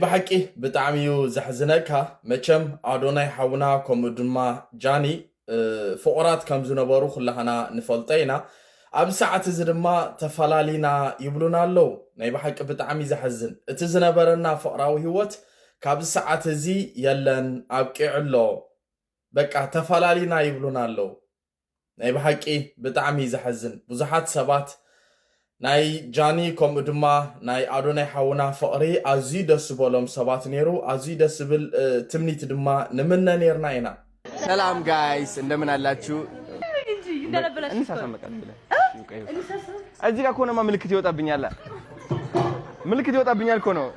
ብሓቂ ብጣዕሚ እዩ ዘሕዝነካ መቸም ኣዶናይ ሓውና ከምኡ ድማ ጃኒ ፍቑራት ከም ዝነበሩ ኩላህና ንፈልጦ ኢና ኣብዚ ሰዓት እዚ ድማ ተፈላሊና ይብሉና ኣለው ናይ ብሓቂ ብጣዕሚ እዩ ዘሕዝን እቲ ዝነበረና ፍቕራዊ ህይወት ካብዚ ሰዓት እዚ የለን ኣብቂዑ ኣሎ በቃ ተፈላሊና ይብሉና ኣለው ናይ ብሓቂ ብጣዕሚ ዘሐዝን ብዙሓት ሰባት ናይ ጃኒ ከምኡ ድማ ናይ ኣዶናይ ሓውና ፍቅሪ ኣዝዩ ደስ ዝበሎም ሰባት ነይሩ ኣዝዩ ደስ ዝብል ትምኒት ድማ ንምነ ነይርና ኢና። ሰላም ጋይስ እንደምን አላችሁ? እዚህ ጋር ከሆነማ ምልክት ይወጣብኛል። ምልክት ይወጣብኛል እኮ ነው።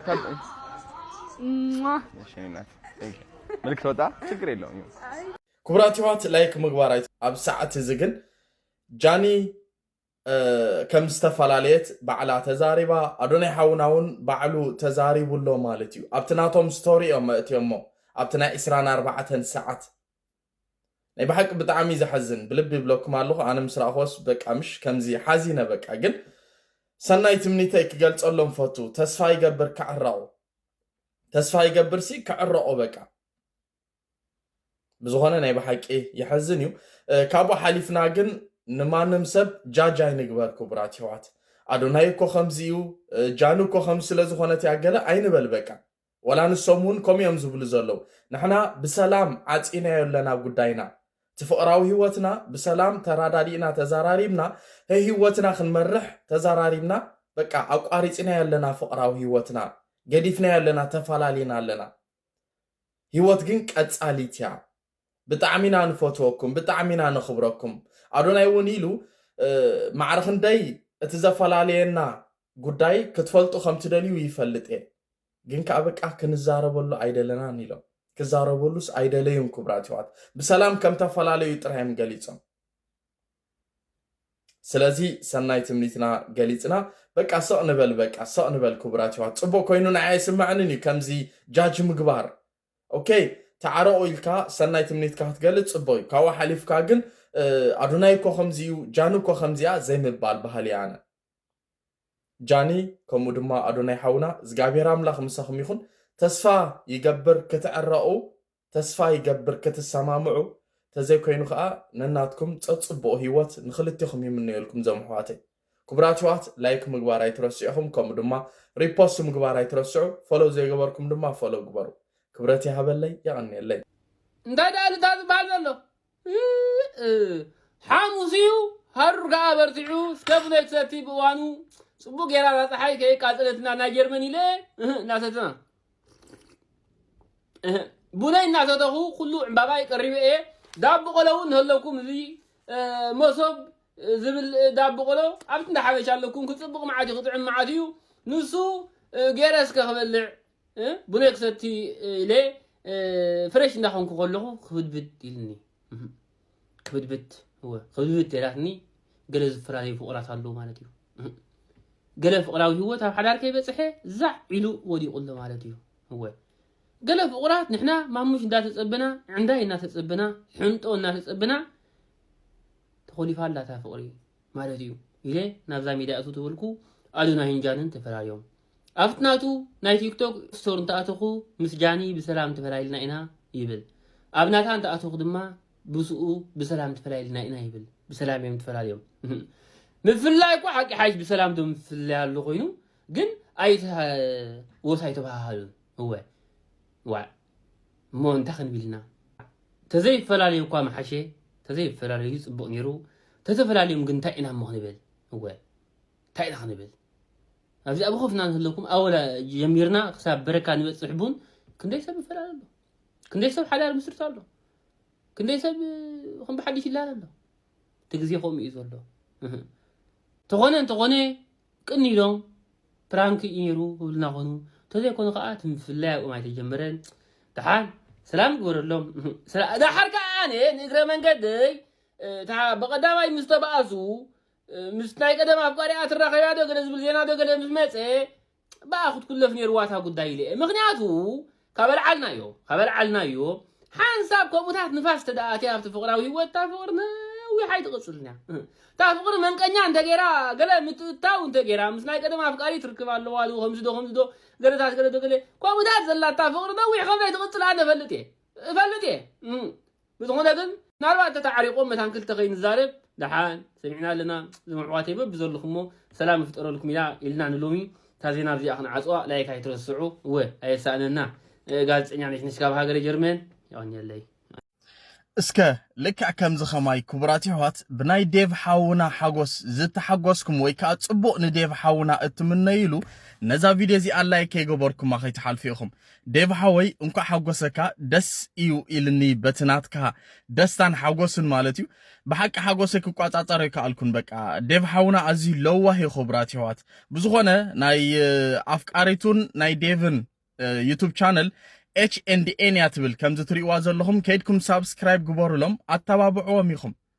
ምልክት ወጣ፣ ችግር የለውም። ክቡራት የሕዋት ላይክ ምግባር ኣይ ኣብ ሰዓት እዚ ግን ጃኒ ከም ዝተፈላለየት ባዕላ ተዛሪባ ኣዶናይ ሓውና እውን ባዕሉ ተዛሪቡ ኣሎ ማለት እዩ ኣብቲ ናቶም ስቶሪ እዮም መእትዮሞ ኣብቲ ናይ 24 ሰዓት ናይ ብሓቂ ብጣዕሚ ዘሐዝን ብልቢ ይብለኩም ኣለኹ ኣነ ምስ ረኣኹወስ በቃ ምሽ ከምዚ ሓዚነ በቃ ግን ሰናይ ትምኒተይ ክገልጸሎም ፈቱ ተስፋ ይገብር ክዕረቑ ተስፋ ይገብርሲ ክዕረቑ በቃ ብዝኾነ ናይ ብሓቂ ይሐዝን እዩ ካብኡ ሓሊፍና ግን ንማንም ሰብ ጃጅ ኣይንግበር ክቡራት ይሕዋት ኣዶናይ እኮ ከምዚ እዩ ጃኑ እኮ ከም ስለዝኾነት እያ ገለ ኣይንበል በቃ ወላ ንሶም እውን ከምኡ እዮም ዝብሉ ዘለዉ ንሕና ብሰላም ዓፂናዮ ኣለና ጉዳይና እቲ ፍቕራዊ ህይወትና ብሰላም ተራዳዲእና ተዘራሪብና ህይወትና ክንመርሕ ተዘራሪብና በቃ ኣቋሪፅናዮ ኣለና ፍቕራዊ ህይወትና ገዲፍናዮ ኣለና ተፈላሊና ኣለና ሂወት ግን ቀጻሊት እያ ብጣዕሚ ኢና ንፈትወኩም ብጣዕሚ ኢና ነኽብረኩም ኣዶናይ እውን ኢሉ ማዕረ ክንደይ እቲ ዘፈላለየና ጉዳይ ክትፈልጡ ከም ትደልዩ ይፈልጥ እየ ግን ከዓ በቃ ክንዛረበሉ ኣይደለናን ኢሎም ክዛረበሉስ ኣይደለዩን ክቡራት ይዋት ብሰላም ከም ተፈላለዩ ጥራዮም ገሊጾም ስለዚ ሰናይ ትምኒትና ገሊጽና በቃ ስቅ ንበል በቃ ስቅ ንበል ኩቡራት የሕዋት ጽቡቅ ኮይኑ ንዓይ ኣይስመዐንን እዩ ከምዚ ጃጅ ምግባር ok ተዓረቁ ኢልካ ሰናይ ትምኒትካ ክትገልጽ ጽቡቅ እዩ ካብኡ ሓሊፍካ ግን ኣዱናይ እኮ ከምዚ እዩ ጃኑ እኮ ከምዚ እያ ዘይምባል በሃሊ እየ ኣነ ጃኒ ከምኡ ድማ ኣዶናይ ሓውና እግዚኣብሔር ኣምላኽ ምሳኹም ይኹን ተስፋ ይገብር ክትዕረቑ ተስፋ ይገብር ክትሰማምዑ ተዘይ ኮይኑ ከኣ ነናትኩም ጸጽቡቁ ሂወት ንክልቴኹም ይምነየልኩም ዞም ኣሕዋተይ ኩቡራት የሕዋት ላይክ ምግባር ኣይትረስዑ ኢኹም ከምኡ ድማ ሪፖስት ምግባር ኣይትረስዑ ፎሎው ዘይገበርኩም ድማ ፎሎው ግበሩ ክብረት ይሃበለይ የቀንየለይ። እንታይ ድኣ ኢሉ እታ ዝብሃል ዘሎ ሓሙስ እዩ ሃሩር ከዓ በርቲዑ እስከ ብሎ ትሰቲ ብእዋኑ ፅቡቅ ጌራ እዛ ፀሓይ ከየቃፀለትና ናይ ጀርመን ኢለ እናሰተና ቡነይ እናሰተኹ ኩሉ ዕምባባይ ቀሪበ እየ ዳቦ ቆሎ እውን እንተለኩም እዚ መሶብ ዝብል ዳቦ ቆሎ ኣብቲ እንዳ ሓበሻ ኣለኩም ክፅብቅ መዓት እዩ ክጥዕም መዓት እዩ ንሱ ገይረ እስከ ክበልዕ ቡነ ክሰቲ ኢለ ፍረሽ እንዳኾንኩ ከለኹ ክብድብድ ኢልኒ ክብድብድ እወ ክብድብድ ተይላትኒ ገለ ዝፈላለዩ ፍቑራት ኣለዉ ማለት እዩ ገለ ፍቕራዊ ህይወት ኣብ ሓዳር ከይበፅሐ ዛዕ ኢሉ ወዲቑ ኣሎ ማለት እዩ እወ ገለ ፍቑራት ንሕና ማሙሽ እንዳተፀበና ዕንዳይ እናተፀበና ሕንጦ እናተፀበና ተኾሊፋ ኣላ እታ ፍቕሪ ማለት እዩ ኢለ ናብዛ ሚድያ እቱ ተበልኩ ኣዶና ሂንጃንን ተፈላለዮም ኣብቲ ናቱ ናይ ቲክቶክ ስቶር እንተኣተኹ ምስ ጃኒ ብሰላም ተፈላይልና ኢና ይብል ኣብ ናታ እንተኣተኹ ድማ ብሱኡ ብሰላም ተፈላይልና ኢና ይብል ብሰላም እዮም ተፈላልዮም ምፍላይ እኮ ሓቂ ሓይሽ ብሰላም ዶ ምፍላይ ኣሎ ኮይኑ ግን ኣይተ ወስ ኣይተባሃሃሉን እወ ዋዕ እሞ እንታይ ክንብልና ተዘይፈላለዩ እኳ መሓሸ ተዘይፈላለዩ ፅቡቕ ነይሩ ተተፈላለዮም ግን እንታይ ኢና እሞ ክንብል እወ እንታይ ኢና ክንብል ኣብዚ ኣብ ኹፍና እንህለኩም ኣወላ ጀሚርና ክሳብ በረካ ንበፅሕ ቡን ክንደይ ሰብ ይፈላለ ኣሎ ክንደይ ሰብ ሓዳር ምስርት ኣሎ ክንደይ ሰብ ከም ብሓድሽ ይላል ኣሎ እቲ ግዜ ከምኡ እዩ ዘሎ ተኾነ እንተኾነ ቅን ኢሎም ፕራንክ እዩ ነይሩ ክብልና ኮኑ ተዘይኮኑ ከዓ እቲ ምፍላይ ኣብኦም ኣይተጀመረን ድሓን ሰላም ግበረሎም ድሓር ከዓ ኣነ ንእግረ መንገደይ ብቐዳማይ ምስ ተባኣሱ ምስ ናይ ቀደም ኣፍቃሪኣ ትራኸብያ ዶ ገለ ዝብል ዜና ዶ ገለ ምስ መፀ ብኣ ክትኩለፍ ነይርዋ እታ ጉዳይ ኢለ እየ ምክንያቱ ካበልዓልናዮ ካበልዓልናዮ ሓንሳብ ከምኡታት ንፋስ ተደኣትያ ኣብቲ ፍቕራዊ ህይወት እታ ፍቕሪ ነዊሕ ኣይትቕፅልን እያ እታ ፍቕሪ መንቀኛ እንተገይራ ገለ ምትእታው እንተገይራ ምስ ናይ ቀደም ኣፍቃሪ ትርክብ ኣለዋ ዶ ከምዚ ዶ ከምዚ ዶ ገለታት ገለ ዶ ገለ ከምኡታት ዘላታ ፍቕሪ ነዊሕ ከምዘይትቕፅል ኣነ እፈልጥ እየ እፈልጥ እየ ብዝኾነ ግን ምናልባት ተታዓሪቆም መታን ክልተ ከይንዛረብ ደሓን ሰሚዕና ኣለና ዞም ኣሕዋተይ በብዘለኹሞ ሰላም ይፍጠረልኩም ኢና ኢልና ንሎሚ እታ ዜና ኣብዚኣ ክንዓጽዋ ላይክ ኣይትረስዑ እወ ኣየሳእነና ጋዜጠኛ ነሽነሽ ካብ ሃገረ ጀርመን የቐንየለይ እስከ ልክዕ ከምዚ ከማይ ክቡራት የሕዋት ብናይ ዴቭ ሓውና ሓጎስ ዝተሓጎስኩም ወይ ከዓ ፅቡቕ ንዴቭ ሓውና እትምነይሉ ነዛ ቪድዮ እዚኣ ላይክ ከይገበርኩማ ከይትሓልፉ ኢኹም ዴቭ ሓወይ እንኳዕ ሓጎሰካ ደስ እዩ ኢልኒ በቲ ናትካ ደስታን ሓጎስን ማለት እዩ ብሓቂ ሓጎሰይ ክቋጻጸር ኣይከኣልኩን በቃ ዴቭ ሓውና ኣዝዩ ለዋህ እዩ ክቡራት የሕዋት ብዝኾነ ናይ ኣፍቃሪቱን ናይ ዴቭን ዩቱብ ቻነል ኤች ኤንድ ኤን እያ ትብል ከምዚ ትሪእዋ ዘለኹም ከይድኩም ሳብስክራይብ ግበሩሎም ኣተባብዕዎም ኢኹም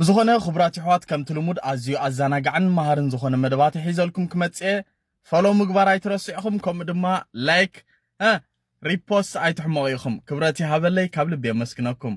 ብዝኾነ ክቡራት የሕዋት ከምቲ ልሙድ ኣዝዩ ኣዛናጋዕን መሃርን ዝኾነ መደባት ሒዘልኩም ክመጽእ እየ ፎሎው ምግባር ኣይትረስዑ ኢኹም ከምኡ ድማ ላይክ ሪፖስት ኣይትሕመቑ ኢኹም ክብረት ይሃበለይ ካብ ልቢ የመስግነኩም